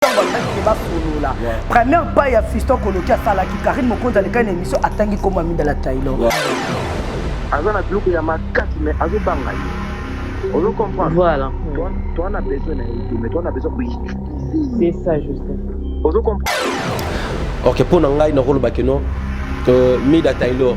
ntango alobaki ke basolola première pai ya fiston koloki asalaki karine mokonzi alekaki na émission atangi nkombo ya midala taylor aza na biloko ya makasi mais azobanga ye ozo comprendre voilà toi na besoin na ye mais toi na besoin koutiliser c'est ça joseph ozo comprendre ok mpo na ngai nakolobaki no euh, mida taylor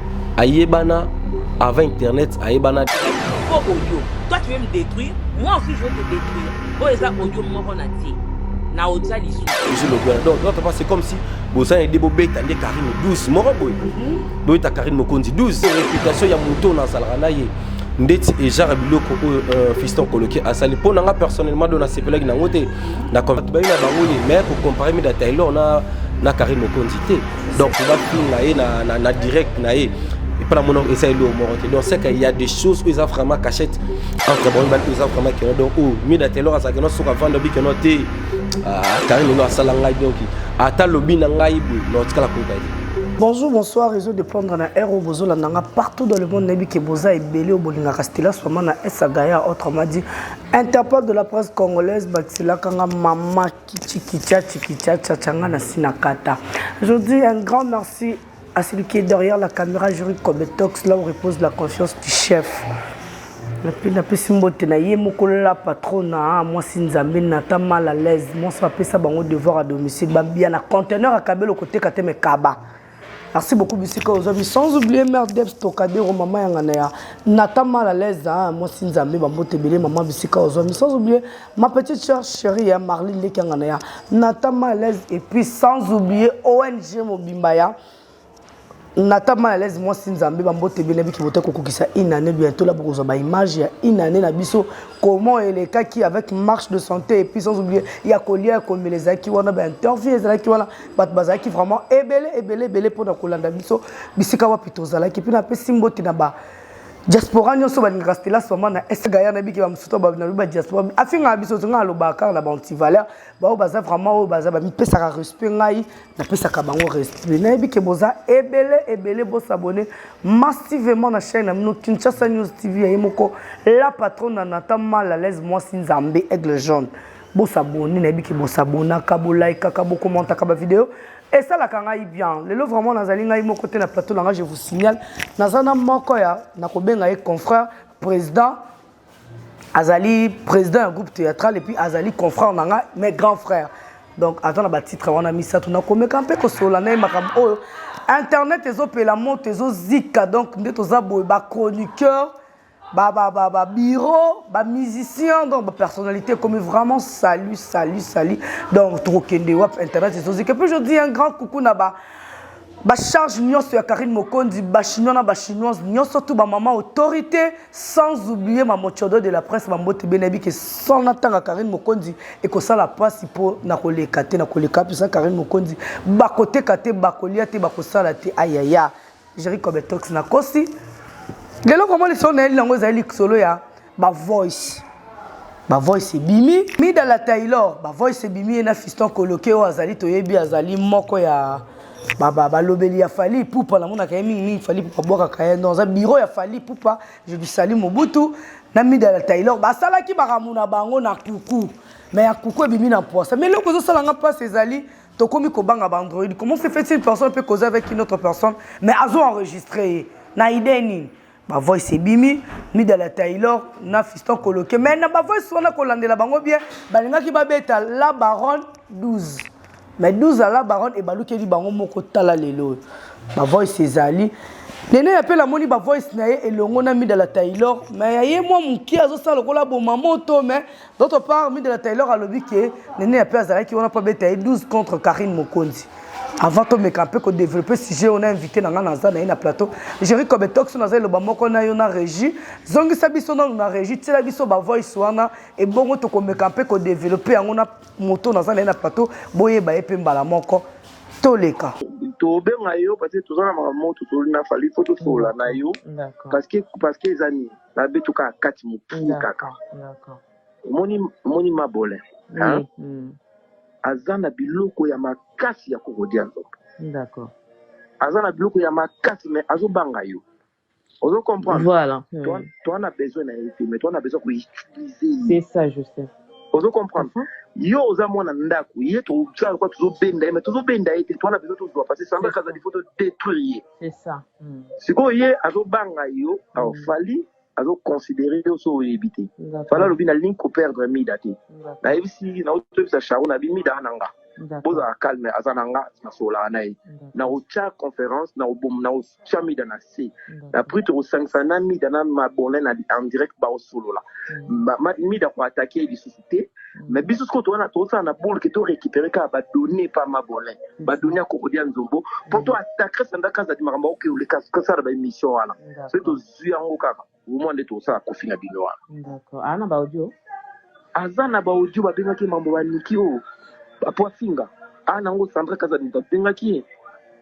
ayebana avant internet ayebana po audio toi tu veux me détruire moi aussi je veux te détruire oyo eza audio moko na tie na otya lisusu donc notre pas c'est comme si bozana ede bobeta nde karine 12 moko boye mhm. boyeta karine mokonzi 12 réputation ya moto oyo nazalaka na ye ndeti ejara biloko oyo euh, fiston koloki asali mpo na nga personnellement do nasepelaki nango te na bayi na bango ye mais kocompare mida taylor na, na karine mokonzi te donc bafinga ye na, na, na direct na ye epa na mona eza eloo moko te donc seke ya des choses oyo eza vraiment cachette entre bango mibale oyo eza vraiment keno donc oyo oh, mida telor azalaki no soki avanda obi keno te kari ah, lelo asala ngai donc ata lobi na ngai boye na otikala koyoka ye Bonjour, bonsoir, réseau de prendre na Aero Bozola Nanga partout dans le monde. Nabi ke boza et belé au Bolinga Castilla, Somana, Esagaya, autrement dit, Interpol de la presse congolaise, Baxila Kanga, Mama Chikicha, chikicha, chachanga na sinakata. Je dis un grand merci à celui qui est derrière la caméra, Jury Kobetox, là où repose la confiance du chef. napesi mbote na ye moko la patrona ah, mwasi nzambe nata mal à l'aise mwasi apesa bango devoir à domicile bambia na conteneur akabeli okoteka te mekaba Merci beaucoup bisika ozobi sans oublier mère Debs Tokadero maman yanga na ya Nata mal à l'aise hein moi si nzambe ba mbote belé maman bisika ozobi sans oublier ma petite sœur chérie hein Marlene Leki yanga na ya Nata mal à l'aise et puis sans oublier ONG Mobimba ya Nata mal à l'aise moi si nzambe ba mbote belé biki bote ko kokisa une année bientôt là bokozwa ba image ya une année na biso comment elle est qui avec marche de santé et puis sans oublier ya kolia ya komeleza ki wana ba interview ezalaki wana bato bazalaki vraiment ebele ebele ebele mpona kolanda biso bisika wapi tozalaki mpe napesi mbote na ba diaspora nyonso balingaka stela soma na esgaya na biki bamosusu to balobi badiaspora afingaka biso zonga alobaka kaka na baantivaleur baoyo baza vraiment oyo baza bamipesaka respect ngai napesaka bango respect nayebi ke boza ebele ebele bosabone massivement na chaine na bino kinshasa news tv ya ye moko la patronne na natan mal à l'aise mwasi nzambe aigle jaune Bo s'abonner nayebi ki bo s'abonnaka, bo likaka, bo commentaka ba video. esalaka ngai bien lelo vraiment nazali ngai moko te na plateau na ngai je vous signale naza na moko ya nakobenga ye confrère président azali président ya groupe théâtral epuis azali confrère na ngai mais grand frère donc aza na batitre wana misato nakomeka mpe kosolola na ye makambo oyo internet ezopela moto ezozika donc nde toza boye bachroniqueur ba ba ba ba bureau ba musicien donc ba personnalité comme vraiment salut salut salut donc tokokende wapi internet ezozika puis je dis un grand coucou na ba bacharge nyonso ya karine mokonzi bachinois na bachinoise nyonso tu bamama autorité sans oublie mamocodo de la presse bambote bene yebi ke sans natanga karine mokonzi ekosala mpasi mpo na koleka te na koleka mpenza karine mokonzi bakoteka te bakolia te bakosala te ayaya Jerry Cobetox na kosi. Lelo vraiment lisolo na yeli nango ezali lisolo ya ba voice. Ba voice ebimi. Mida la Taylor, ba voice ebimi ye na Fiston Koloke oyo azali toyebi azali moko ya balobeli ba, ba ya Fally Ipupa namonaka ye mingi mingi Fally Ipupa bwakaka ye donc aza bureau ya Fally Ipupa je lui salue Mobutu na Mida la Taylor basalaki makambo na bango na kuku mais ya kuku ebimi na mposa mais eloko ezosala nga mpasi ezali tokomi kobanga baandroid comment se fait une personne peut causer avec une autre personne mais azo enregistre ye na idee nini bavoice ebimi mida la taylor na fiston koloke mais na bavoice wana kolandela bango bien balingaki babeta la baronne 12 mais 12 ya la baronne ebalukeli bango moko tala lelo oyo bavoice ezali nene ya mpe namoni bavoice na ye elongo na mida la taylor mais ya ye mwa moke azosala lokola boma moto mais D'autre part, Midela Taylor alobi que Nene Yape azalaki wana mpo abeta ye 12 contre Karine Mokonzi. Avant tomeka mpe ko développer sujet oyo na invité na ngai naza na ye na plateau. Jerry Kobe Toxo naza eloba moko na yo na régie. Zongisa biso nanu na régie, tiela biso ba voice wana ebongo tokomeka mpe ko développer yango na moto naza na ye na plateau boyeba ye mpe mbala moko toleka. tobenga yo parce que toza na makambo moko tosoli na fali fo tosolola na yo parce que parce que eza nini ba beto kaka kati mokili kaka omoni omoni mabolin hein mm. aza na biloko ya makasi ya kokodia nzoto d'accord aza na biloko ya makasi mais azobanga yo ozo comprendre voilà hmm. toi toi na besoin na ye te mais toi na besoin ko utiliser ye c'est ça je sais ozo comprendre uh -huh. yo oza mwana ndako ye tozala kwa tozobenda ye mais tozobenda ye te toi na besoin tozwa parce que samba kaza il faut to détruire ye C'est ça. Mm. Sikoyo ye azobanga yo mm. oh, Fally azoconsidere yo so oyebi te fala alobi nalingi koperdre mida te nayebisi naotoyebisa charo na bi mida na nga bozala calme aza na nga nasololaka na ye naotya conférence naotya mida na se na prix tokosangisa na mida na mabolin na en direct baosolola mida koatake ye lisusu lisusu te mais biso sikoyo towana tozosala na boule ke to récupérer kaka ba données epa mabolin ba données ya kokodi ya nzombo mpo to attaquer sanda kazadi makambo akoki oleka kosala ba émission wana soki tozwi yango kaka omwa nde tokosala kofi na bino wana D'accord. Ana ba audio. aza na ba audio babengaki ye mambo ba niki oyo mpo afinga ana yango sandra kazadi moto abengaki ye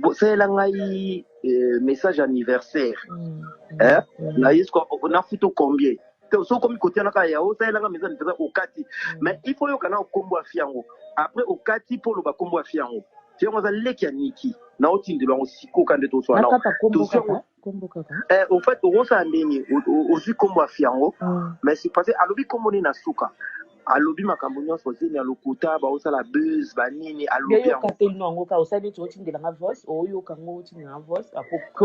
bosalela ngai eh, message anniversaire mm. eh? mm. na yesu nafutu combien soki okomi kotianaka ya osalelaka message anniversaire okati mm. mais il faut yoka na okombo ya fiango après okati mpo oloba kombo ya fiango fiango aza leki ya niki na otindelo yango sikoka nde toswana kombo kaka eh, au fait okosala ndenge ozwi kombo ya fiango mm. mais c'est parce alobi kombo nini na suka alobi makambo nyonso zemi ya lokuta baosala buzz banini alobi yango te lino yango kaka osali neti otindela nga voice oyoka ngo otindela nga voice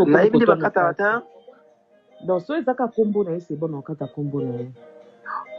nayebi nde bakataka te donc so ezaka kombo na ye c'est bon okata kombo na ye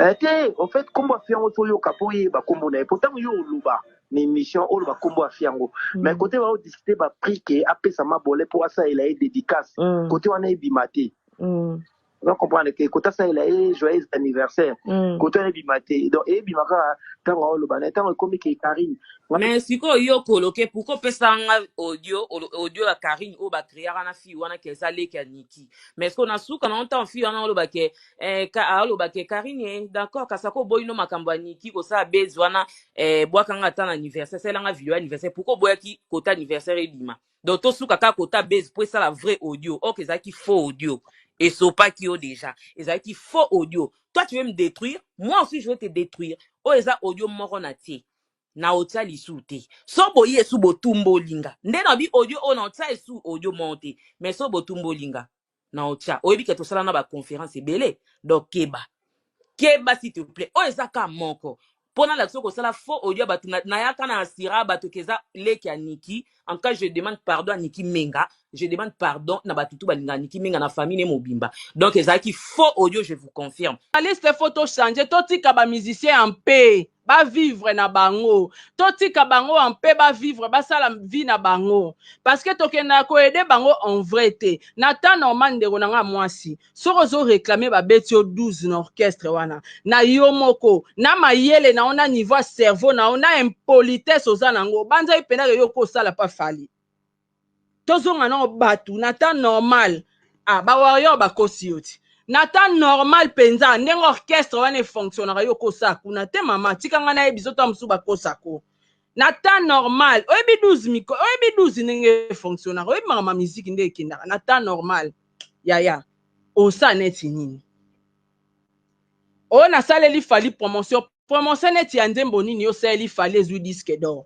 eh, te en fait kombo ya fiango toyoka mpo oyeba kombo na ye mpo ntango yo oloba na emission oloba kombo ya fille yango mais kote bao discuter ba prix ke apesa mabolin po asalela ye dedicace Mm. kote wana ebima te Mm. oza comprendre ke kote asalela ye joyeux anniversaire Mm. kote wana ebima te donc ebima kaka ntango aoloba na ye ntango ekomi ke karine me sikoyo yo koloke pourko opesaka nga audio olo- audio ya karine oyo bakreaka na fille wana ke eza leki ya niki me sikoyo na suka nango ntango fille wana oloba ke eh, ka- aloba ke karine eh, d'accord kasi ako oboyi no makambo ya niki kosala base wana eh, bwaka nga ata na anniversaire salela nga video ya anniversaire pourquoi oboyaki kota anniversaire ebima donc tosuka kaka kota base mpo esala vrai audio ok ezalaki faux audio esopaki yo déjà ezalaki faux audio toi tu veux me détruire moi aussi je veux te détruire oyo eza audio moko na tie na otya lisu te so boyi esu botumboli nga nde na bi audio oyo na otya esu audio moko te mais so botumboli nga na ocha oyebi ke tosala na ba conference ebele donc keba keba s'il te plaît oyo eza ka moko mpo nalakisa yo kosala faux audio ya bato na- nayaka na asira bato ke eza leki ya niki en tout cas je demande pardon ya niki menga je demande pardon na bato tu balingaka niki menga na famille ne mobimba donc ezalaki faux audio je vous confirme Journaliste faut to changer, to tika ba musiciens en paix. ba vivre na bango totika bango en paix ba vivre basala vie na bango parce que tokenda ko aider bango en vrai te na temps normal ndeko na nga mwasi soki ozo réclamer ba beti yo 12 na orchestre wana na yo moko na mayele na yo na niveau ya cerveau na yo na impolitesse oza na ngo banza ipenda ke yo ko sala pa fali tozonga nao bato na temps normal ah, ba warrior bakosi yo ti na temps normal mpenza ndenge orchestre wana efonctionnaka yo kosa kuna te mama tika ngai nayebi biso ntango mosusu bakosako na temps normal oyebi 12 miko oyebi 12 ndenge efonctionnaka oyebi makambo ya miziki nde ekendaka na temps normal yaya osa neti nini oyo nasaleli fali promotion promotion neti ya nzembo nini osaleli fali ezwi disque d'or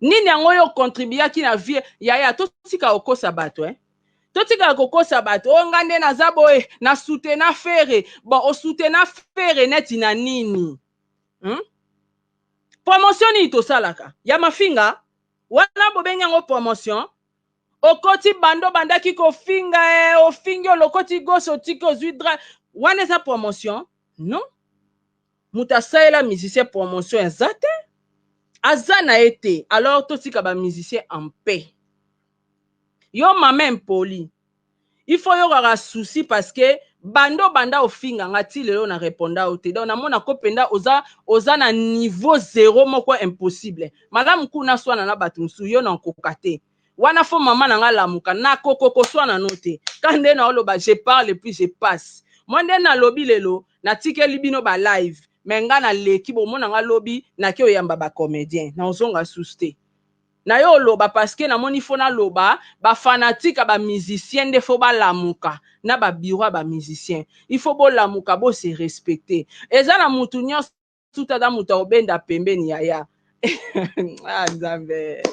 nini yango yo contribuaki na vie yaya totika kokosa bato eh? totikala kokosa bato oyo oh, nga nde naza boye na soutena fere bon osoutena fere neti na nini hmm? promotion nini tosalaka ya mafinga wana bobengi yango promotion okoti bando bandaki kofinga eh, ofingi olokoti gosi otiki ozwi dra wana eza promotion non moto asalela musicien promotion eza te aza na ye te alors totika ba musicien en paix yo mama impoli il faut yokaka souci parce que banda obanda ofinga nga ti lelo na reponda yo te donc namona ko mpenza oza, oza na niveau zero moko impossible malamu kuna swana na bato mosusu yo na okoka te wana fo mama na nga lamuka na kokokoswa na no te ka nde naoloba je parle puis je passe mwa nde nalobi lelo natikeli bino ba live me nga naleki bomona nga lobi nake oyamba ba comédien na ozonga susu te na yo oloba parceke namoni fo naloba bafanatike ya bamusicien nde fo balamuka na babiro ya bamusicien ifo bolamuka bose respecte eza na mutu nyonso tuta na moto akobenda pembeni yaya ah, nzambe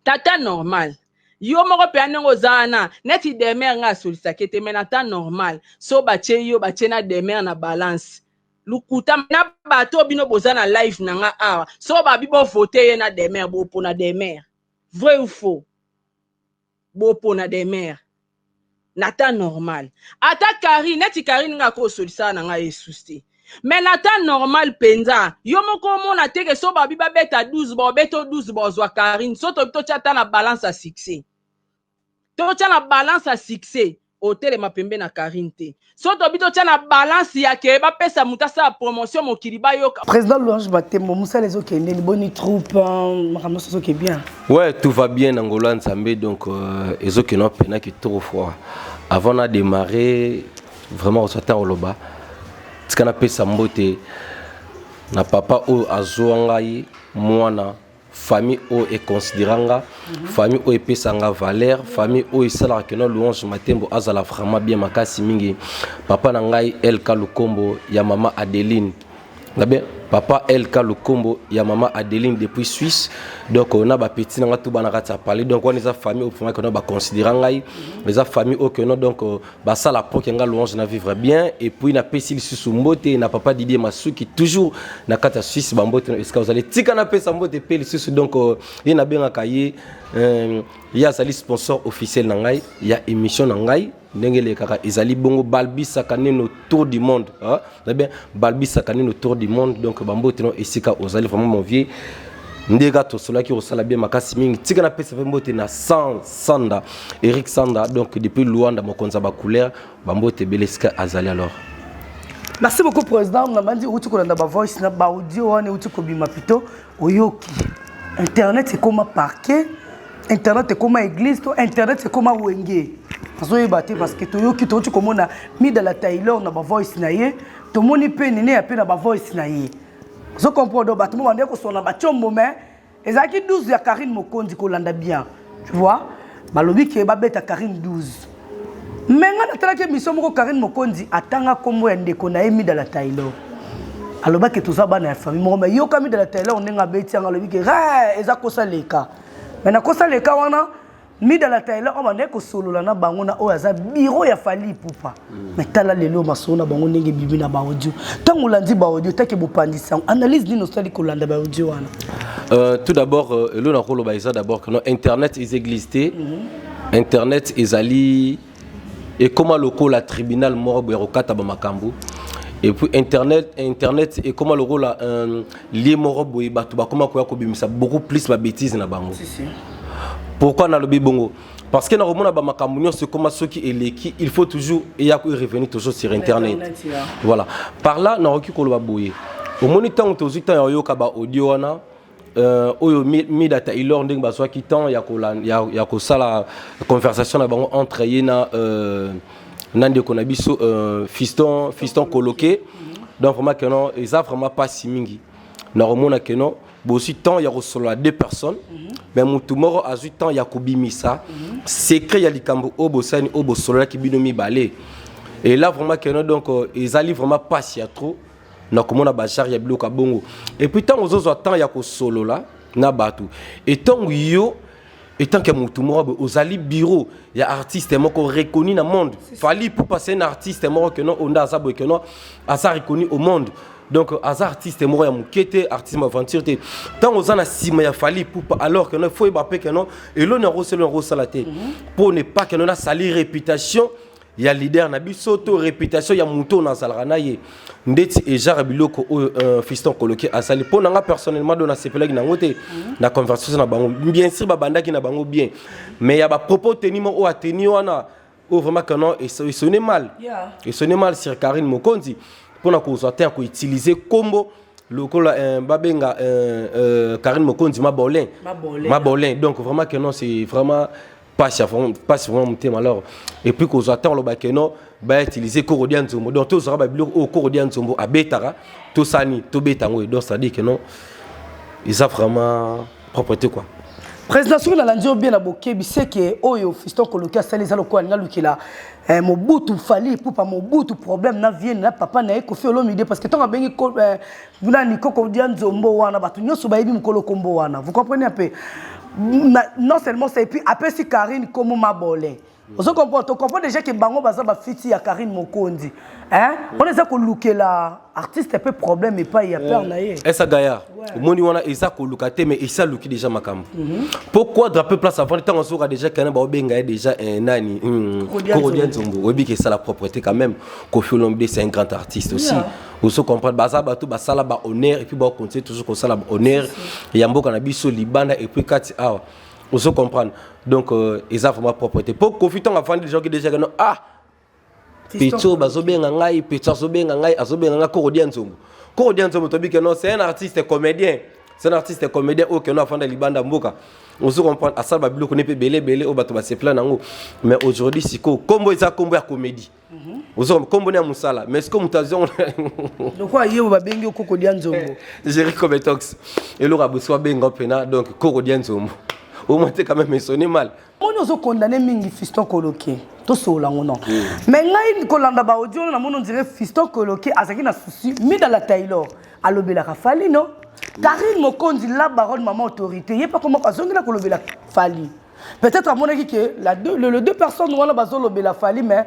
tata normal yo moko mpe ndenge oza wana neti demer ngai asolisaki te mai na temps normal so batye yo batye na demer na balance lokuta na bato oyo bino boza na live na ngai awa so babi bovote ye na demer bopona demer vrai ou faux bopona demeure na temps normal ata karine neti karine nga ko solisaka na ngai esusi te me na temps normal mpenza yo moko omona teke so babi babeta 12 baobeto 12 baozwa karine so tobi totya ata na balance ya succès totya na balance ya succès otelema pembe na Karine te so tobi totya na balance ya ke bapesa moto asala promotion mokili bayoka président louange batembo mosala ezokendeni boni troupe euh, makambo nyonso ezoke bien ouais tout va bien na ngolo ya nzambe donc euh, ezokende mpena kitoko froid avant na démarrer vraiment ozwa ntango oloba tika napesa mbote na papa oyo azwa ngai mwana famille oyo econsidera nga famille oyo epesa nga valeur famille oyo esalaka kino louange matembo azala vraiment bien makasi mingi papa na ngai elka lukombo ya mama adeline ngabe papa elka lukombo ya mama adeline depuis suisse donc euh, na bapeti na ngai to bana kati ya palais donc wana eza famille oyo vraiment kino baconsidera ngai eza famille oyo kino donc euh, basala mpo ke nga louange na vivre bien et puis napesi lisusu mbote na papa didie masuki toujours na kati ya suisse bambote na esika ozali tika napesa mbote mpe lisusu donc euh, ye nabengaka ye euh, ye azali sponsor officiel na ngai ya émission na ngai ndenge elekaka ezali bongo balbisaka neno tour du monde hein? Très bien. Balbi Sakanine autour du monde. Donc, Bambo Tino et Sika Ozali, vraiment mon vieux. ndeka tosolaki kosala bien makasi mingi tika napesa mpe mbote na san sanda eric sanda donc depuis luanda mokonzi ya bacouleur bambote ebele esika azali alors merci beaucoup président nabandi outi kolanda bavoice na baaudio wana euti kobima pito oyoki internet ekoma parquet internet ekoma église to internet ekoma wenge nazoyeba te parce que toyoki touti komona mida la taylor na bavoice na ye tomoni mpe nene ya mpe na bavoice na ye ozo comprendre bato mo bandeki kosona batiombo mais ezalaki 12 ya karine mokonzi kolanda bien tu vois balobi ke babeta karine 12 me ngai natalaki emission moko karine mokonzi atanga nkombo ya ndeko na ye midala taylor alobaki toza bana ya famille moko me yoka midala taylor ndenge abeti yango alobi ke eza kosa leka mais nakosa leka wana mida la taila oyo bandaki kosolola na bango na oyo aza biro ya fali ipupa mm. mais tala lelo masolo na bango ndenge ebimi na baaudio ntango olandi baaudio take bopandisi yango analyse nini osali kolanda baaudio wana euh, tout d'abord euh, elo nakoloba eza d'abord que non internet is existe mm -hmm. internet ezali ekoma lokola tribunal moko boye ya kokata bamakambo epuis internet internet ekoma lokola um, lie moko boye bato bakoma koya kobimisa beaucoup plus babétise na bango si, si. pourquoi nalobi bongo parce que nakomona bamakambo nyonso ekoma soki eleki il faut toujours eya ko revenir toujours sur internet, internet yeah. voilà par là nakoki koloba boye omoni ntango tozwi ntango ya koyoka baaudio wana Euh, oyo mida taylor ndenge bazwaki temps ya, kola, ya, ya kosala conversation na bango entre ye na, euh, na ndeko na biso euh, fiston, fiston coloqué donc vraiment keno eza vraiment mpasi mingi na komona keno bozwi temps ya kosolola deux personnes mhm. mais motu moko azwi temps ya kobimisa mhm. secret ya likambo oyo bosani oyo bosololaki bino mibale et là vraiment keno donc ezali vraiment mpasi ya trop na komona bazare ya biloko ya bongo epuis ntango ozozwa temps ya kosolola na bato etango yo etant que motu moko boye ozali bureau ya artiste moko reconnu na monde fali pupa c'est un artiste moko keno onda aza boye keno aza reconnu au monde donc aza artiste moko ya moke te artiste ma aventure te ntango oza na nsima ya fali pupa alors keno faut yeba mpe keno eloni yango oselo yango osala te mpo ne pas keno na sali réputation ya leader na biso to réputation ya moto na azalaka na ye ndeti ejara biloko oyo euh, fiston koloke asali mpo na nga personnellement do nasepelaki na yango te mhm. na conversation na bango bien sûr babandaki na bango bien mais ya bapropos teni mo oyo ateni wana oyo vraiment canon esone mal esone mal sur karine mokonzi mpo na kozwa te ya koutilize nkombo lokola euh, babenga euh, karine mokonzi mabolin mabolin donc vraiment canon c'est vraiment pasi ya vraiment pasi vraiment motema alors et puis kozwa ntango oloba ke non ba utiliser koro dia nzombo donc tozwaka babiloko oyo koro dia nzombo abetaka tosani tobeta yango donc c'est à dire que non eza vraiment propre te quoi président soki nalandi yo bien na bokebi seke oyo fiston koloki asali eza lokola alingi alukela eh, mobutu fali epupa mobutu problème na vienne na papa na ye kofi olomide parce que ntango abengi eh, Buna likoko dia nzombo wana bato nyonso bayebi mokolo kombo wana. Vous comprenez un peu? Non seulement ça et puis apesi Karine komo mabole. Ozo comprendre to comprendre déjà que bango baza ba fiti ya Karine Mokonzi. Hein? On eza ko lukela artiste peu problème et pas ya père na ye. Esa Gaya. Omoni wana eza ko luka te mais esa luki déjà makambo. Pourquoi drapeau place avant tant on sera déjà kana ba benga déjà un nani. Korodia Nzombo. Oyebi que ça la propreté quand même. Kofi Olomide c'est un grand artiste aussi. Yeah. ozo comprendre baza bato basala ba honneur et puis ba continuer toujours kosala ba honneur ya mboka na biso libanda et puis kati awa ozo comprendre donc euh, eza vraiment propreté po kofi ntango afandi gens qui déjà keno ah pecho bazobenga ngai pecho azobenga ngai azobenga ngai koko dia nzombo koko dia nzombo tobi keno c'est un artiste comédien c'est un artiste comédien oyo keno afanda libanda mboka ozo comprendre asala babiloko ne mpe ebele ebele oyo bato basepela nango mais aujourd'hui sikoyo nkombo eza nkombo ya comédie Mhm. oza kombo ya mosala mais siko moto azongo lokola ye babengi yo koko dia nzombo géri cometox eloko abosiko abenga mpena donc koko dia nzombo omate quand même esoni mal moni ozokondane mingi fiston koloke tosolola yango non mais ngai kolanda baaudio wana namoni ondire fiston koloke azalaki na souci mida la taylor alobelaka fali no karine mokonzi la baronne mama autorité ye mpe akomaka azongela kolobela fali peut-être amonaki que la deux, le, le deux personnes wana bazolobela fali mais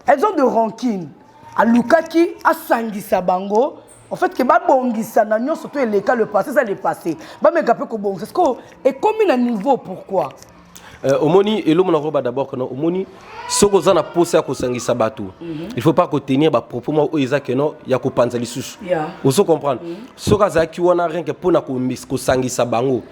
elles ont de rancune alukaki asangisa bango en fait ke babongisa na nyonso to eleka le passé eza le passé bameka mpe kobongisa sikoyo ekomi na niveau pourquoi Euh, omoni elomona yango ba d'abord keno omoni soki oza na mposa ya kosangisa bato mm -hmm. il faut pas kotenir bapropos moko oyo eza keno ya kopanza lisusu yeah. ozo comprendre mm -hmm. soki azalaki wana renke mpo na kosangisa bango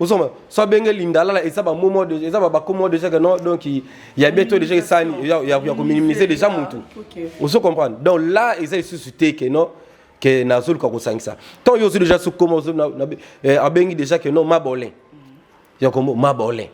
ozoma so abenge lindalala eza bamomo eza bakomo déjà que non donc ya bie to déjà esani ya kominimize déjà motu ozo comprendre donc là eza lisusu te que non ke nazoluka kosangisa tant yo ozwi déjà sukoma abengi déjà que non mabolin ya kombo mabolin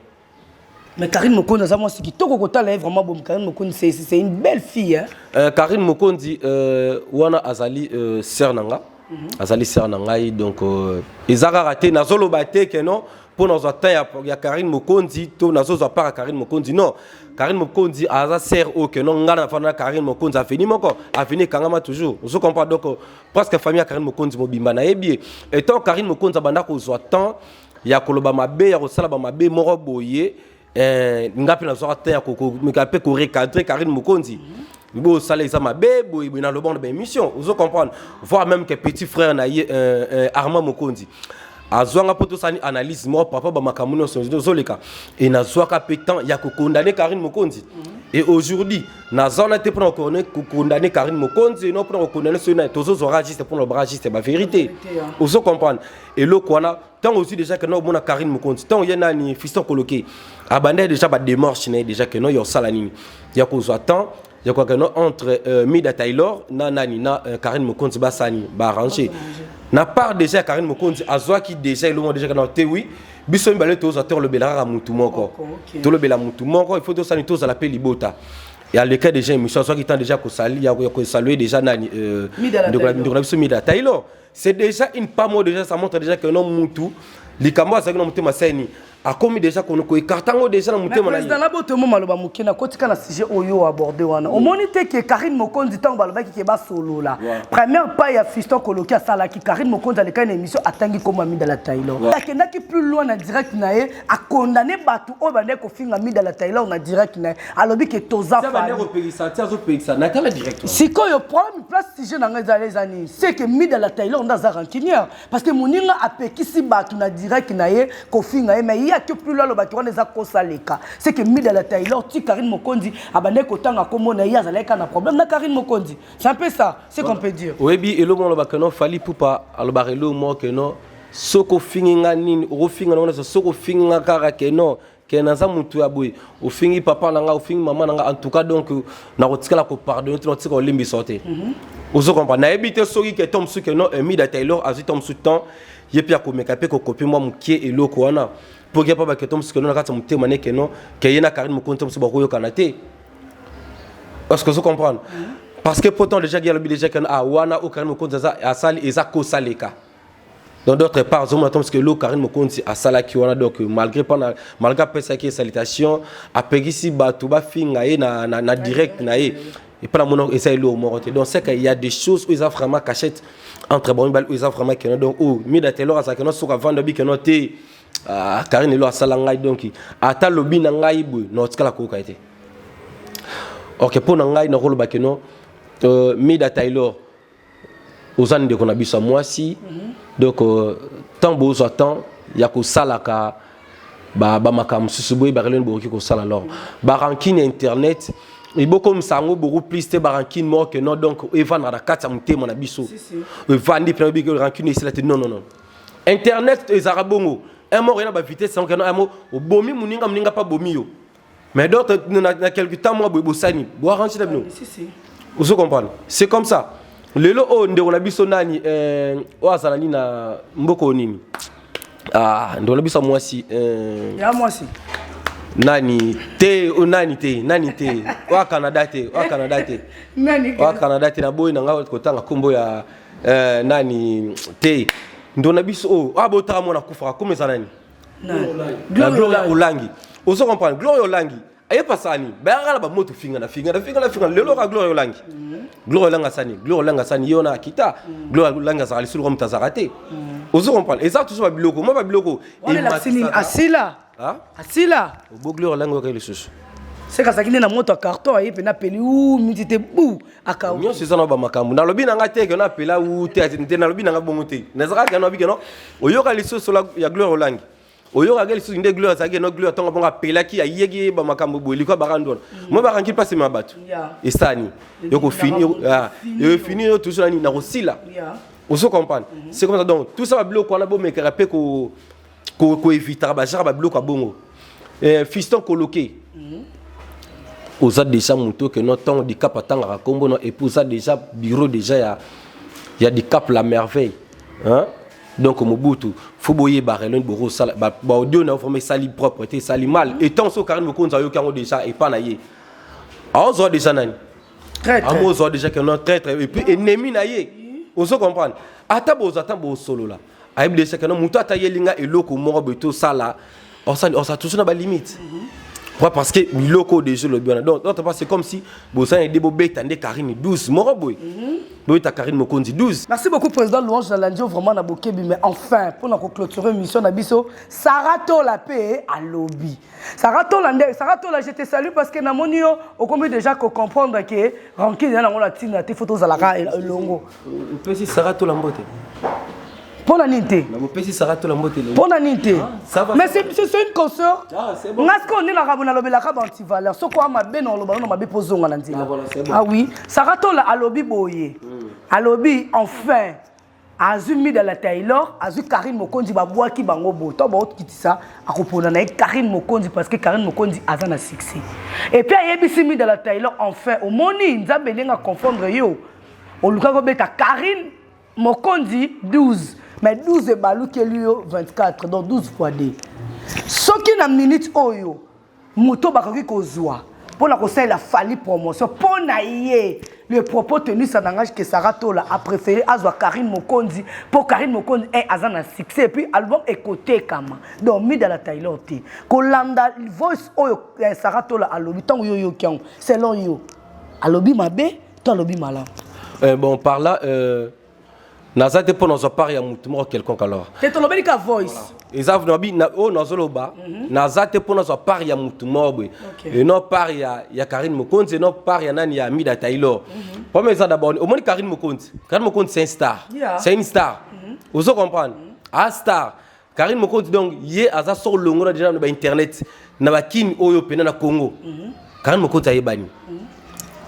Mais Karine Mokonzi aza mwasi kitoko kotala ye vraiment bom Karine Mokonzi c'est c'est une belle fille hein. Euh, Karine Mokonzi euh, wana azali euh, sœur nanga. Mm -hmm. Azali sœur na ngai donc euh, eza kaka te nazoloba te que non mpo nazwa temps ya, ya Karine Mokonzi to nazozwa part ya Karine Mokonzi non Karine Mokonzi aza sœur oyo que non ngai nafanda na Karine Mokonzi aveni moko aveni ekangama toujours ozo comprendre donc presque famille ya Karine Mokonzi mobimba nayebi ye etant Karine Mokonzi abanda kozwa temps ya koloba mabe ya kosala bamabe moko boye eh, nga mpe nazwaka te ya komeka mpe korecadre karine mokonzi mbe osala eza mabe boye boye naloba na baémission ozo comprendre voir même que petit frère na ye euh, euh, armand mokonzi azwanga mpo tosali analyse moko papa bamakambo nyonso ozoleka e nazwaka mpe temps ya kokondane karine mokonzi e aujourd'hui naza wana te mpona kokondane karine mokonzi no mpona kokondane soki naye tozozwaka juste mpona lobaka juste bavérité ozo comprendre eloko wana ntango ozwi déjà keno omona karine mokonzi ntango ye nani fiston koloke abanda ye déjà bademarche na ye déjà keno ya osala nini ya kozwa temps ya koyaka no entre euh, mida taylor na nani na euh, karine mokonzi basala nini baarrange na part déjà ya karine mokonzi azwaki déjà elongo déjà kana te wi biso mibale tozwa te olobela kaka motu moko tolobela motu moko il faut tosala nini tozala mpe libota ya le cas déjà émission azwaki temps déjà ya kosalue déjà nani euh, ndeko na biso mida taylor c'est déjà une pas moi déjà ça montre déjà que non mutu likambo azalaki na motema saini akomi déjà koekarta yango déjà na motema président naboto mo maloba moke na kotika na sujet oyo aborde wana omoni te ke karine mokonzi ntango balobaki ke basolola première pas ya fiston koloki asalaki karine mokonzi alekaki na émission atangi nkombo ya mida la taylor akendaki plus loin na direct na ye a condamné bato oyo bandaki kofinga mida la taylor na direct na ye alobi ke toza sikoyo problème place sujet na ngai ezala eza nini seke mida la taylor nde aza rancunière parce que moninga apekisi bato na direct na ye kofinga ye mai ye ake plus lo alobaki wana eza kosa leka seke mida la taylor ti karine mokonzi abandaki kotanga nkombo na ye azalaki kaka na problème na karine mokonzi c'est un peu ça ce qu'on peut dire oyebi eloko alobaka no fali pupa alobaka eloko moko no soki ofingi nga nini okofinga nango nyonso soki ofingi nga kaka ke non ke naza motu ya boye ofingi papa na nga ofingi mama na nga en tout cas donc nakotikala kopardonne te nakotika kolimbisa te mhm. ozo comprendre nayebi te soki ke to mosusu ke non emida taylor azwi to mosusu temps ye mpe akomeka mpe kokopi mwa mokie eloko wana mpo ke mpo baketo mosusu ke non na kati ya motema ne ke non ke ye na karine mokonzi to mosusu bakoyokana te parce que ozo comprendre mhm. parce que pourtant déjà ge alobi déjà ke ah wana oyo karine mokonzi asali eza kosaleka dans d'autres parts azomona ntango soki eloko karine mokonzi asalaki wana donc malgré mpana malgré apesaki ye salitation apekisi bato bafinga ye na, na, na direct na ye epai namona eza eloko moko te donc seke ya des choses oyo eza vraiment cachette entre bango mibale oyo eza vraiment keno donc oyo oh, mida telor azalaki no soki avanda obi keno te ah, karine elo asala ngai donc ata lobi na ngai boye naotikala koyoka ye te ok mpo na ngai nakoloba keno euh, mida taylor oza ndeko na biso ya mwasi mhm. donc ntango euh, bozwa temps ya kosalaka bamakambo mosusu boye bakeleni bokoki kosala lor barankine ya internet ebokomisa yango beaucoup plus te barankine moko ke non donc evandaka na kati ya motema na biso evandi mpena oyebi rankine esila te non non non internet ezalaka bongo un mort ena bavitesse yango keno un mot obomi moninga moninga mpe abomi yo Mais d'autres, na quelque temps, moi, boy, bosani. Boa ranchi na bino. Si, si. Vous comprenez C'est comme ça. Lelo, oh, ndeko na biso nani, euh, oa zalani na mboko nini. Ah, ndeko na biso mwasi, euh. Ya mwasi. Nani te, oh, nani te, nani te. Oa Canada te, oa Canada te. Nani te. Oa Canada te na boy na nga kotanga kombo ya euh, nani te. Ndeko na biso, oh, oa botaka mwana kufaka, komeza nani? na gloria olangi ozo comprendre gloria olangi aye pasani bayaka na bamoto fingana fingana fingana fingana lelo ka gloria olangi mm. gloria olangi asani gloria olangi asani ye wana akita mm. gloria olangi azalaka lisolo kwa moto azalaka mm. te ozo comprendre eza tuso babiloko mwa babiloko asila asila obo gloria olangi okei lisusu sekasaki nde na moto ya carton aye mpe na peli u miti te bu akau nyonso eza na bamakambo nalobi na ngai te keno apela u te ati te nalobi na ngai bongo te nazalaka keno abi keno oyoka lisusu la- ya gloire olangi oyokaka lisusu nde gloire azalaki keno gloire ntongo bongo apelaki ayeki ye bamakambo boye likwa bakandu wana moi bakangi mpasi ma bato Yeah. esani yokofini yo- ah, yofini yo toujours nani nakosila ya ozo comprendre c'est comme ça donc tout ça babiloko wana bomekaka mpe ko ko ko evitaka ba jaka ba biloko abongo eh, fiston koloke mm. oza déjà moto que no ntango dicap atangaka nkombo no epuis oza déjà bureau déjà ya, ya dicap la merveille hein? donc mobutu fo boyeba relon bokosala baaudio na yo vraimen esali propre te esali mal etant so karine mokonzi ayoki yango déjà epa na ye aozwa déjà nani yango ozwa déjà que non traitre epuis ennemi na ye ozo comprendre ata bozwa ntango bosolola ayebi de sekeno moto ata yeli nga eloko moko boye tosala osa tusu na balimite mhm. pourquoi parce que biloko oyo deja olobi wana donc notre pas c'est comme si bosana ede bobeta nde karine 12 moko boye mhm. boyeta karine mokonzi 12 merci beaucoup président louange na landio vraiment na bokebi mais enfin mpo na koclôture émission na biso sara tola mpe alobi sara tola nde sara tola je te salue parce que namoni yo okomi déjà kocomprendre ke rankine ya nango na ntina te fo tozalaka elongo opesi sara tola mbote mpo na nini te mpo na nini te mais c'est une consort ah, nga sikoyo nde nakabo nalobelaka baantivaleur soko a mabe na oloba nono mabe mpo ozonga na nzela ah, ah oui sara tola alobi boye hmm. alobi enfin azwi mida la taylor azwi karine mokonzi babwaki bango bo to baokitisa akopona na ye karine mokonzi parce que karine mokonzi aza na succès epuis ayebisi mida la taylor enfin omoni nzambe ndenge aconfondre yo olukaki obeta carine mokonzi 12 mais 12 ebalukeli yo 24 donc 12 fois 2 soki na minute oyo moto bakoki kozwa mpo na kosalela fali promotion mpo na ye le propos tenu sa nangage que sara tola apréféré azwa karine mokonzi mpo karine mokonzi e aza na succès epuis album ekotekama donc mida la taylor te kolanda voice oyo eh, sara tola alobi ntango yo oyoki yango selon yo alobi mabe to alobi malamu euh, bon par là euh, naza te mpo nazwa part ya motu moko quelconque alors te tolobeli ka voice eza nabi oyo nazoloba mhm. naza te mpo nazwa part ya motu moko boye enon part ya, ya karine mokonzi enon part ya nani ya mida taylor mhm. problème eza d'abord omoni karine mokonzi karine mokonzi c'est un star c'est une star mhm. ozo comprendre a ah, star Karine Mokonzi donc ye aza soko longola déjà na ba internet na ba kin oyo pena na Congo. Mm -hmm. Karine Mokonzi ayebani. Mm -hmm.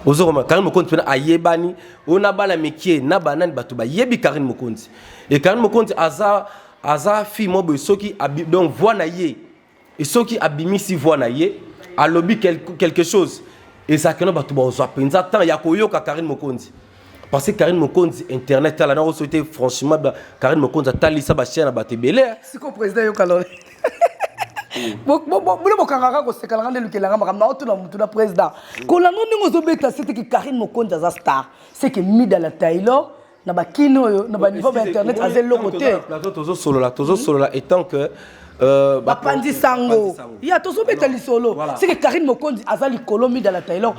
ozokoma karine mokonzi mpena ayebani oyo na bana mikie na banani bato bayebi karine mokonzi e karine mokonzi aza aza fille mwa boye soki donc voi na ye Et soki abimisi voix na ye, alobi quelque chose, ezalaka na bato bazwa mpenza temps ya koyoka Karine Mokonzi. Parce que Karine Mokonzi internet tala na oso te franchement ba Karine Mokonzi atalisa ba chaîne ba tebele. Hein. Siko président yoka lolo. bino bokangaka kosekalanga nde lukelanga makambo na otuna motu na président kolanda ndenge ozobeta se teke karine mokonzi aza star seke mida la taylor na bakini oyo na baniveau ba internet aza eloko te plateau tozosolola tozosolola etant que Euh, bapanzi sango ya tozobeta lisolo seke karine mokonzi aza likolo mida la taylor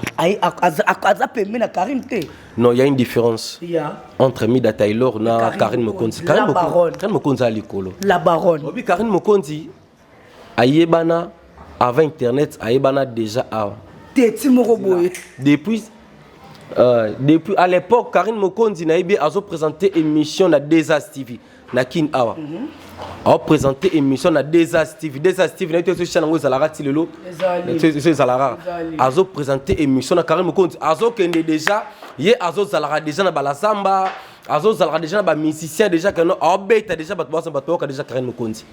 aza pembe na karine te non ya une différence yeah. entre mida taylor na karine mokonzi karine mokonzi aza likolo la baronne obi karine mokonzi ayebana avant internet ayebana déjà awa teti moko boye depuis euh, depuis à l'époque Karine Mokonzi nayebi azo présenter émission na Desas TV na Kin awa mm -hmm. azo présenter émission na Desas TV Desas TV nayebi tozo chana ngo ezalaka ti lelo tozo ezalaka azo présenter émission na Karine Mokonzi azo kende déjà ye azo zalaka déjà na Balazamba azo zalaka déjà na ba musiciens déjà que non azo beta déjà bato bazo bato yoka déjà Karine Mokonzi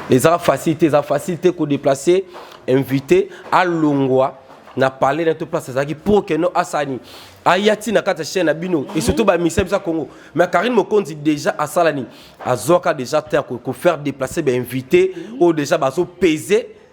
eza facile te eza facile te kodeplace invité alongwa na palais na to place azalaki pour que no asani aya ti na kati ya chaîne na bino et surtout bamisa biso ya congo mais karine mokonzi déjà asala nini azwaka déjà te kofaire déplacer bainvité oyo déjà bazopese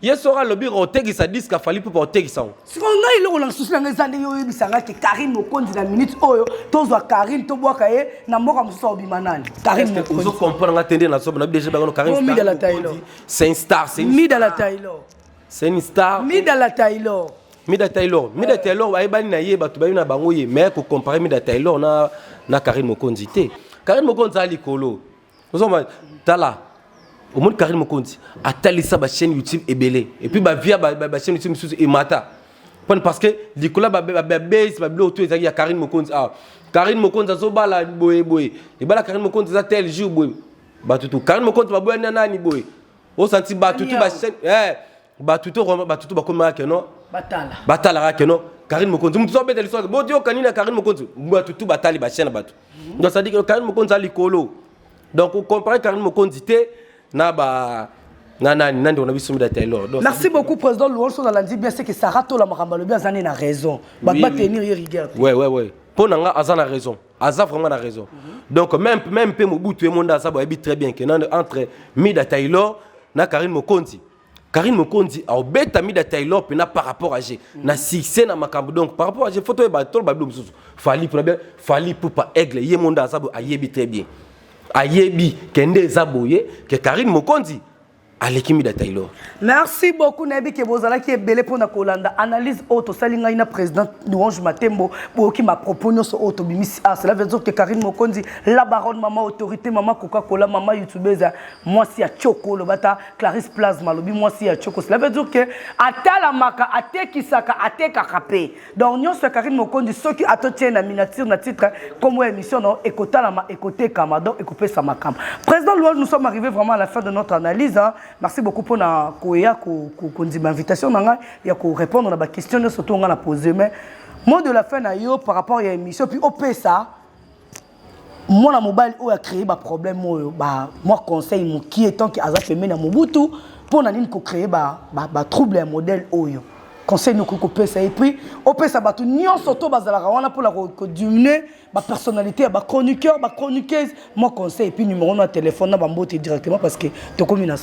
ye soki alobi otekisa diske afali mpo baotekisa yango sikoyo ngai eloko na susi nanga eza ndenge oyebisa ngai ke karine mokonzi na minute oyo tozwa karine tobwaka ye na mboka mosusu aobima nani karineozo comprendre nga te nde nasoba na bdg bango karinmidala taylor c'est une star c'est midala taylor c'est une star midala taylor mida taylor mida taylor ayebani na ye bato bayebi na bango ye mais kocompare mida taylor na, na karine mokonzi te karine mokonzi aza likolo ozoma tala omoni karine mokonzi atalisa bachaîne youtube ebele epuis bavia bachaîne youtube mosusu emata pone parce que likolo ya babase babiloko to ezalaki ya karine mokonzi awa karine mokonzi azobala boye boye ebala karine mokonzi eza tel jour boye bato tu karine mokonzi baboyani na nani boye osanti bato tu bachaîne eh, bato to bato to bakomaka ke no batala batalaka ke no karine mokonzi moto so abeta liswaki boyoka nini ya karine mokonzi bato tu batali basien na bato mhm. donc cestadire karine mokonzi ali likolo donc ocompare karine mokonzi te na ba na nani nani na biso mida taylor donc merci beaucoup président louange na landi bien c'est que Sarah tola makambo alobi aza na raison ba ba tenir ye rigueur ouais ouais ouais mpo na nga aza na raison aza vraiment na raison mhm. donc même même mpe mobutu ye monde aza boyebi très bien que entre mida taylor na karine mokonzi Karine Mokonzi aobeta Mida Taylor pena par rapport à G na succès na makambo donc par rapport à G photo ba tolo ba bilo mususu Fally pona bien Fally pupa aigle ye monde azabo ayebi très bien ayebi kende eza boye que Karine Mokonzi aleki Mida Taylor merci beaucoup nayebi ke bozalaki ebele mpo na kolanda analyse oyo tosali ngai na président louange matembo boyoki mapropos nyonso oyo tobimisi ah cela veut dire que karine mokonzi la baronne mama autorité mama coca cola mama youtubeuse mwasi ya tioko olobata Clarisse Plasma alobi mwasi ya Choco. Cela veut dire que atalamaka, atekisaka, atekaka pe. Donc nyonso ya Karine Mokonzi soki atotie na miniature na titre comme émission non ekotalama, ekotekama donc ekopesa makama. Président Louange, nous sommes arrivés vraiment à la fin de notre analyse. Hein. Merci beaucoup pour na koya ko kondima invitation na ngai ya ko répondre na ba questions nyonso to nga na poser mais mot de la fin na yo par rapport à l'émission puis opesa mwana mobali oyo acree baproblème oyo ba mwa conseil mokie tant que aza pembe na mobutu mpo na nini kocree batrouble ya modèle oyo conseil nokoki kopesa ye prix opesa bato nyonso to bazalaka wana mpona kodiminue bapersonnalité ya bachroniqueur bachroniqueuse mwa conseil epuis numero no ya telefone na bambote directement parce que tokomi na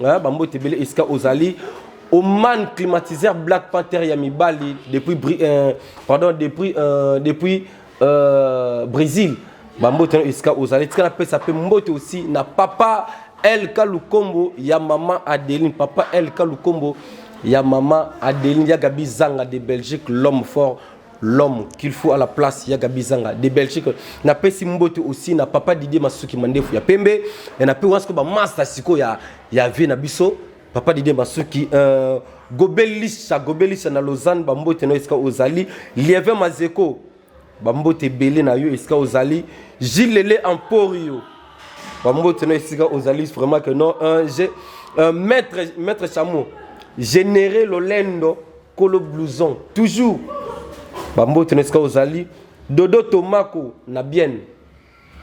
Hein, ba mbote bele esika ozali Oman climatiseur Black Panther ya mibali depuis euh, pardon depuis euh, depuis euh, Brésil ba mbote na esika ozali tika na pesa pe mbote aussi na papa El Kalukombo ya maman Adeline papa El Kalukombo ya maman Adeline ya Gabi Zanga de Belgique l'homme fort l'homme qu'il faut à la place ya Gabi Zanga de Belgique na pesi mbote aussi na papa Didier Masuki mandefu ya pembe na pe wasko ba masta siko ya ya vie na biso papa Didier Masuki euh, gobelisa gobelisa na Lausanne ba mbote na esika ozali lieve mazeko ba mbote belé na yo esika ozali gilele emporio ba mbote na esika ozali vraiment que non un euh, maître maître chameau généré lolendo kolo blouson toujours bambote na esika ozali dodo tomako na bienne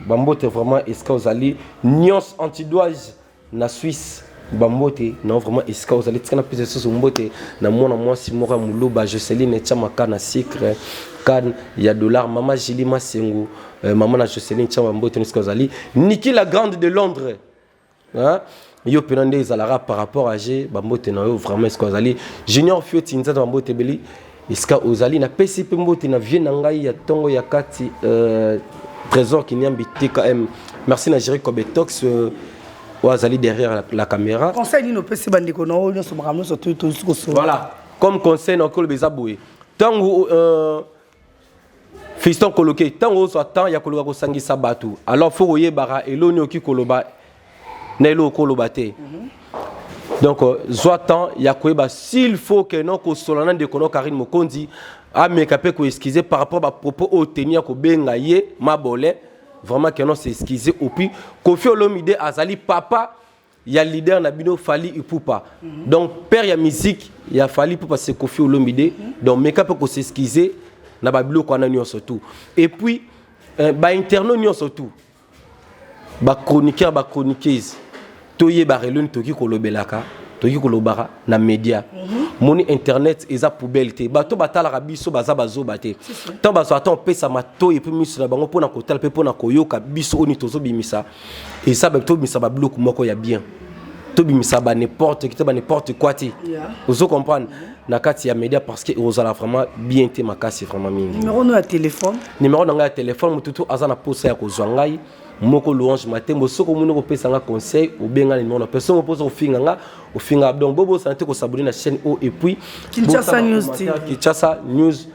bambote vraiment esika ozali nyonso antidoise na suisse bambote na vraiment esika ozali tika napesa lisusu mbote na mwana mwasi moko ya moluba joceline tyama ka na sucre kane ya dollar mama jili masengu euh, mama na joceline tyama mbote na esika ozali niki la grande de londres Hein? yo mpena nde ezalaka par rapport à je bambote na yo vraiment esika ozali junior fioti nzata bambote ebeli esika ozali napesi mpe mbote na vie na ngai ya ntongo ya kati euh, trésor kinyambi tkm merci na géri cobetox euh, oyo azali derrière la, la caméra conseil nini opesi bandeko na oyo nyonso makambo nyonso tosi kosola voilà comme conseil na okoloba eza boye ntango euh, fiston koloke ntango ozwa temps ya koluka kosangisa bato alors fo koyebaka eloni oki koloba na eloko okoloba te donc euh, zwa temps ya koyeba s'il faut que non kosola na ndeko no karine mokonzi ameka mpe koexcuse par rapport bapropos oyo teni ya kobenga ye mabole vraiment que non s'excuse opuis kofi olomide azali papa ya leader na bino Fally Ipupa mm -hmm. donc père ya musique ya Fally Ipupa c'est Koffi Olomide mm -hmm. donc meka pe ko s'excuser na ba biloko wana nyonso tout et puis euh, ba interno nyonso tout ba chroniqueur ba chroniqueuse toyeba relo ni toki kolobelaka toki kolobaka na media mm -hmm. moni internet eza poubelle te bato batalaka biso baza bazoba te ntango bazwa ata opesa matoi epe miso na bango mpo na kotala mpe mpo na koyoka biso oyo nini tozobimisa esa ba tobimisa ba biloko moko ya bien tobimisa ba n'importe kita ba n'importe quoi te yeah. ozo comprendre mm -hmm. na kati ya media parce que ekozala vraiment bien te makasi vraiment mingi numéro no ya téléphone numéro na ngai ya téléphone motu tu aza na posa ya kozwa ngai moko louange matembo soki omoni kopesa nga conseil obenga numéro na personne oposa kofinga nga ofinga donc bobosana te kosabone na chaîne oyo epuis kinshasa news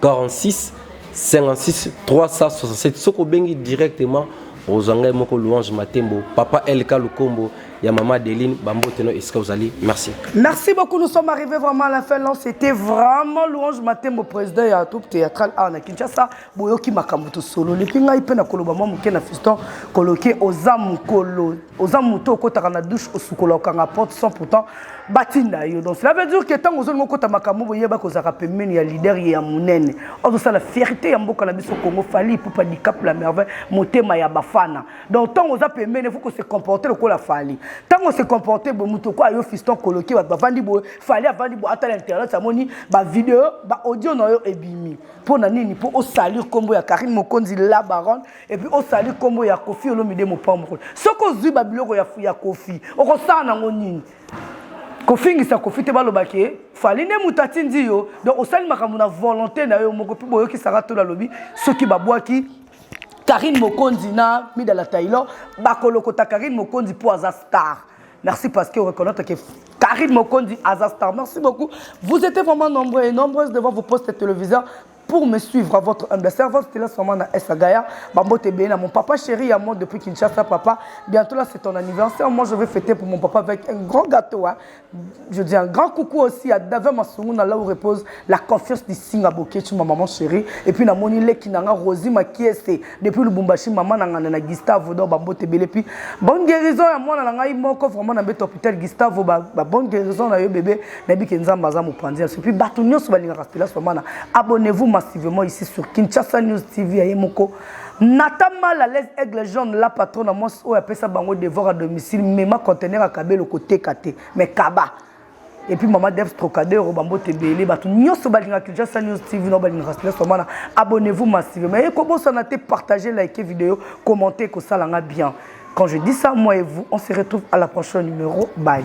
46 56 367 soki obengi directement ozwa ngai moko louange matembo papa lk lukombo ya mama adeline bambote no esika ozali merci merci beaucoup nous sommes arrivés vraiment à la fin non c'était vraiment louange matembo président ya troupe théâtrale awa na kinshasa boyoki makambo tosololi mpe ngai mpe na koloba mwa moke na fiston koloke oza mokolo oza moto okotaka na douche osukola okanga porte sans pourtant batinda yo donc cela veut dire que ntango ozolinga okota makambo boyeba kozalaka pembeni ya lider ye ya monene ozosala fierté ya mboka na biso congo fali ipupa dicap la merveille motema ya bafana donc ntango oza pembeni efo kose comporte lokola fali ntango ose comporte boye moto okoya yo fiston koloki bato bavandi boye fali avandi boye atala internet amoni bavideo baaudio na yo ebimi mpo na nini mpo osalir nkombo ya karine mokonzi la baronne epuis osali nkombo ya kofi olomide mopambokolo soki ozwi babiloko ya, ya kofi okosala nango nini kofingisa kofi te baloba ke fali nde moto atindi yo donc osali makambo na volonté na yo moko mpe boyokisaka tolo alobi soki babwaki karine mokonzi na midala taylor bakolokota karine mokonzi mpo aza star merci parce que reconnaître que Karine Mokondi Azastar. Merci beaucoup. Vous étiez vraiment nombreux et nombreuses devant vos postes téléviseurs. pour me suivre à votre humble servante c'était là seulement na Esagaya bambote ebele na mon papa chéri à moi depuis Kinshasa papa bientôt là c'est ton anniversaire moi je vais fêter pour mon papa avec un grand gâteau hein. je dis un grand coucou aussi à David Masunguna là où repose la confiance du Singa Boketch ma maman chérie et puis na moni leki nanga Rosie Makiese depuis lubumbashi mama na nganda na gustavo donc bambote ebele puis bonne guérison ya mwana na ngai moko vraiment na mbete hôpital gustavo ba, ba bonne guérison na yo bebe nayebi ke nzambe aza mopanzi yaso puis bato nyonso balingaka stelas famana abonnez-vous massivement ici sur kinshasa news tv ya ye moko nata mal à l'aise aigle jaune la patron na mwasi oyo apesa bango devoir à domicile mema contener ya kabelo koteka te mais kaba et puis maman Dev Trocadero bambote ebele bato nyonso balingaka Kinshasa News TV na balingaka Stress Famana abonnez-vous massivement et kobosana te partager liker vidéo commenter ekosala nga bien quand je dis ça moi et vous on se retrouve à la prochaine numéro bye